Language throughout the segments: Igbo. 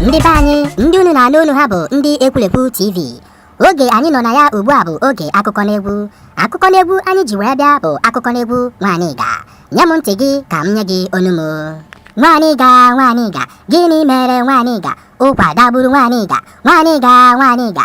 ndị be anyị ndị unu na-anụ olu ha bụ ndị ekwurekwu tv oge anyị nọ na ya ugbu a bụ oge akụkọ n'egwu akụkọ n'egwu anyị ji wee bịa bụ akụkọ n'egwu Nwanịga nye m ntị gị ka m nye gị ọnụ m Nwanịga Nwanịga gịnị mere Nwanịga ụkwa dagburu Nwanịga Nwanịga Nwanịga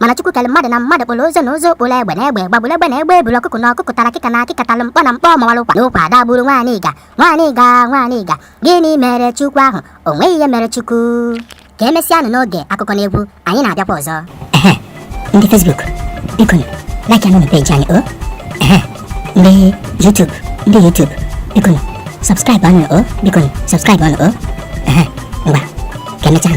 mana Chukwu kere mmadụ na mmadụ kpụrụ ụzụ na ụzụ kpụrụ egbe na egbe gbagburu egbe na egbe buru ọkụkụ na ọkụkụ tara akịka na akịka tara mkpọ na mkpọ mawara ụkwa na ụkwa dagburu Nwanịga Nwanịga Nwanịga gịnị mere Chukwu ahụ o nweghị ihe mere Chukwu ka emesịanụ n'oge akụkọ na egwu anyị na-abịakwa ọzọ ndị Facebook biko like anụ peji anyị o ndị YouTube ndị YouTube biko subscribe anụ o biko subscribe anụ o ngwa ka emechaa